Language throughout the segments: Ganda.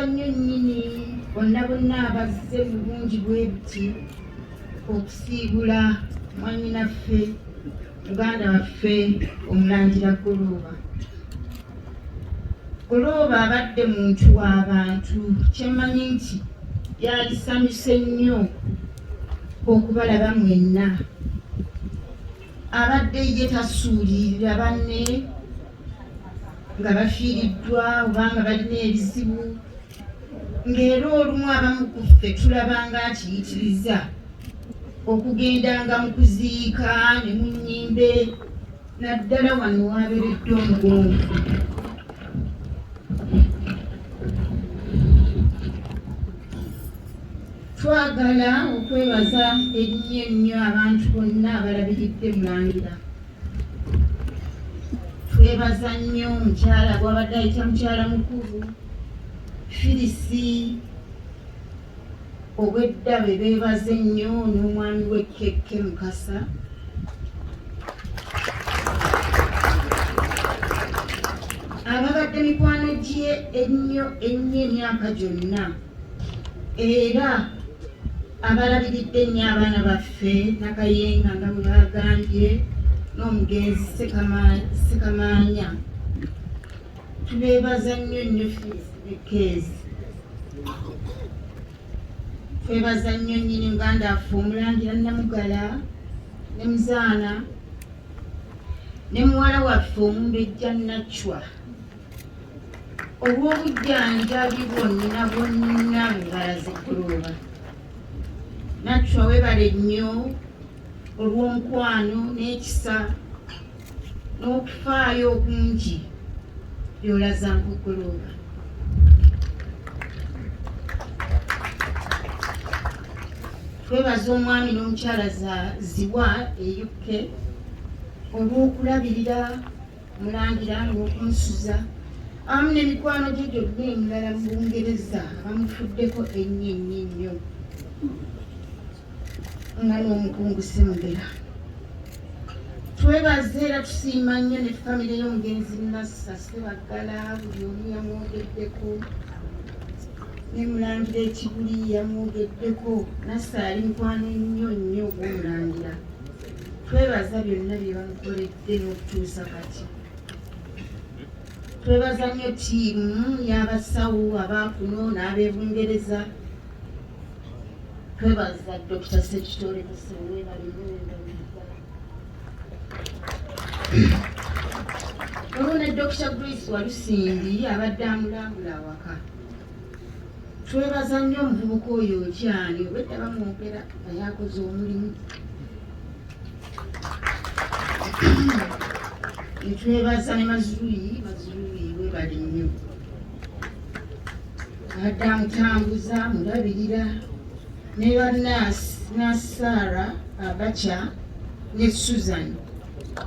nnyo nnyini bonna bonna abazze mu bungi bwe buti okusiibula mwanyinaffe muganda waffe omulangira golooba golooba abadde muntu w'abantu kyemmanyi nti yalisanyuse nnyo okubalaba mwenna abadde ye tasuulirira banne nga bafiiriddwa oba nga balina ebizibu ng'era olumu abamu ku ffe tulaba nga akiyitiriza okugendanga mu kuziika ne mu nnyimbe naddala wano waaberedde omugonvu twagala okwebaza ennyo ennyo abantu bonna abalabiridde mulangira twebaza nnyo mukyala gwabadde ayita mukyala mukulu firisi obwedda be beebaza ennyo n'omwami we kekke mukasa ababadde mikwano gye ennyo ennyo emyaka gyonna era abalabiridde ennyo abaana baffe nakayenga nga bwe bagambye n'omugenzi sekamaanya tubeebaza nnyo nnyo keezi twebaza nnyo nnyini uganda affe omulangira namugala ne muzaana ne muwala waffe omumbejja nacwa obw'obujjanjabi bwonna bwonna bwebalazikulooba natwa webale nnyo olw'omukwano n'ekisa n'okufaayo okungi byolaza nkukulooba twebaza omwami n'omukyala ziwa e uk olw'okulabirira Mulangira ng'okunsuza awamu n'emikwano gye gyonna emirala mu Bungereza bamufuddeko ennyo ennyo ennyo nga n'omukungu Semugera. Twebaza era tusiima nnyo ne famire y'omugenzi Nassa Sebaggala buli omu yamwogeddeko ne Mulangira Ekibuli yamwogeddeko Nassa ali mukwano ennyo nnyo ogw'Omulangira. Twebaza byonna bye bamukoledde. era okutuusa kati twebaza nnyo tiimu y'abasawo abaakuno n'abebungereza twebaza dr sekitore musewe balimuendamuza olwo ne dr grace walusimbi abadde amulambula awaka twebaza nnyo omuvubuka oyo okyali obwedda bamwogera naye akoze omulimu Nitwebaza ne Mazrui, Mazrui webale nnyo. Adda mutambuza mulabirira ne bannaasi Nassara Abacha ne Susan.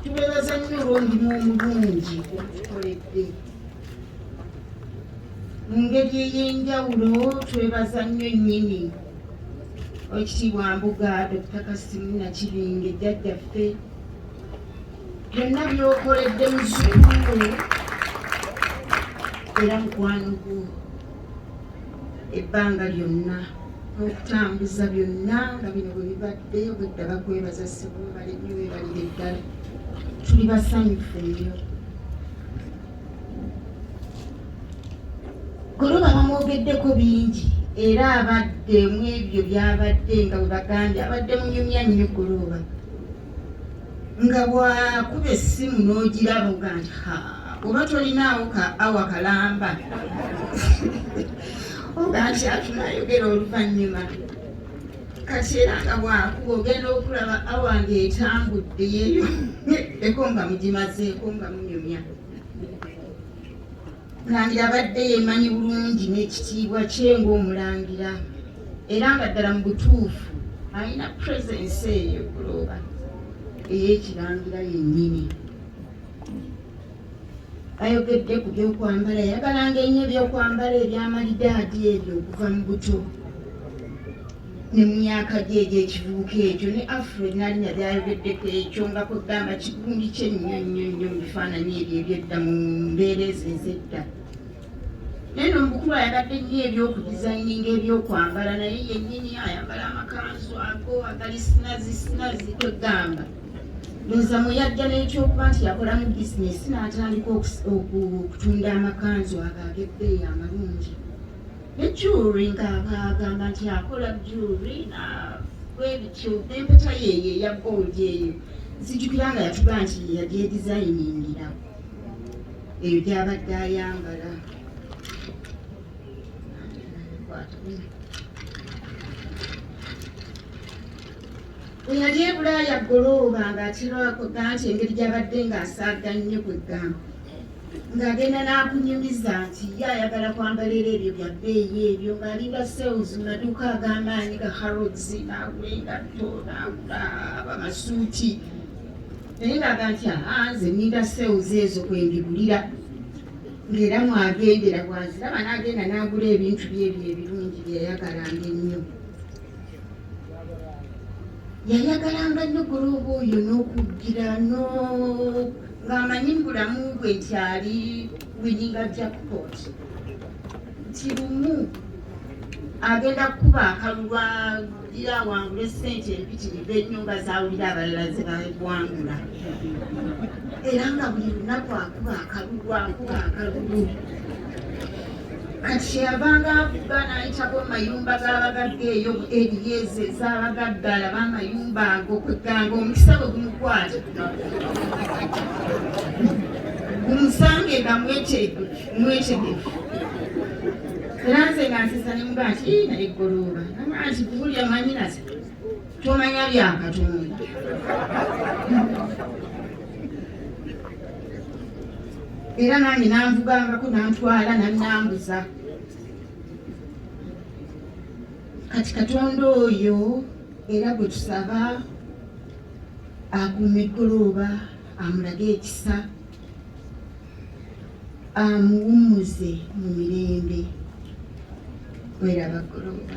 Tubebaza nnyo olw'omulimu omulungi ogutukoledde. Mu ngeri ey'enjawulo twebaza nnyo nnyini Oweekitiibwa Mbuga, Dokita Kasimu Nakibinge, jjajjaffe byonna byokoledde muzukulu era mukwano gwo ebbanga lyonna n'okutambuza byonna nga bino bwe bibadde obwedda bakwebaza ssebumale nnyo webalire ddala tuli basanyufu nnyo Goloba bamwogeddeko bingi era abadde mu ebyo byabadde nga bwe bagambye abadde munyumya nnyo goloba nga bwakuba essimu n'ogiraba oga nti ha oba tolinaawo ka awa kalamba oga nti atunayogera oluvannyuma kati era nga bwakuba ogenda okulaba awa ng'etambudde yeyo eko nga mugimazeeko nga munyumya mulangira abadde yemanyi bulungi n'ekitiibwa kye ng'omulangira era nga ddala mu butuufu alina puresensi eyo kulooba ey'ekirangira yennyini ayogedde ku byokwambala yayagalanga ennyo ebyokwambala ebyamalidaadi ebyo okuva mu buto ne mu myaka gye egy'ekivubuka ekyo ne afro nalinya byayogeddeko ekyo nga kwegamba kigundi kye nnyo nnyo nnyo mu bifaananyi ebyo ebyedda mu mbeera ezo ez'edda naye no mukulu ayagadde nnyo ebyokudizayininga ebyokwambala naye yennyini ayambala amakanzu ago agali sinazi sinazi kwegamba ndoza muyajja nekyokuba nti yakolamu bizinesi natandika okutunda amakanzu ago ag'ebbeeyi amalungi ne jewry ngaagamba nti akola jewry bwebityo empeta yeeyo eya gold eyo nzijukira nga yatuga nti yagyedizayiningira ebyo gyabadde ayambala eyali ebulaaya golooba ng'akirwako ganti engeri gyabadde ng'asaaga nnyo kwe gamba ng'agenda n'akunyumiza nti ye ayagala kwambalira ebyo bya bbeeyi ebyo ng'alinda sales mu maduuka ag'amaanyi ga harrods n'agula engatto n'agula abamasuuti naye ng'aga nti aa nze ninda sales ezo kwendibulira ng'era mwagendera bwaziraba n'agenda n'agula ebintu byebyo ebirungi byeyayagalanga ennyo yayagalanga nnyo gulooba oyo n'okugira ng'amanyi mu bulamu bwe nti ali wininga jackpot nti lumu agenda kukuba akalulwa gira awangule ssente empitirivu ennyo nga zawulira abalala ze bawangula era nga buli lunaku akuba akalulu akuba akalulu kati kyeyavanga avuga n'ayitako mu mayumba g'abagagga eyo eriyeze ez'abagagga alaba amayumba ago kweganga omukisa bwe gumukwata gumusanga egamweteeguki mwekide era nze nga nsesa ne muga nti naye golooba naga nti kuwulira manyinaze tomanya bya katonda era nange nanvugangako nantwala nanambuza kati katonda oyo era gwe tusaba akuuma eggolooba amulage ekisa amuwummuze mu mirembe. Wera bagoloba.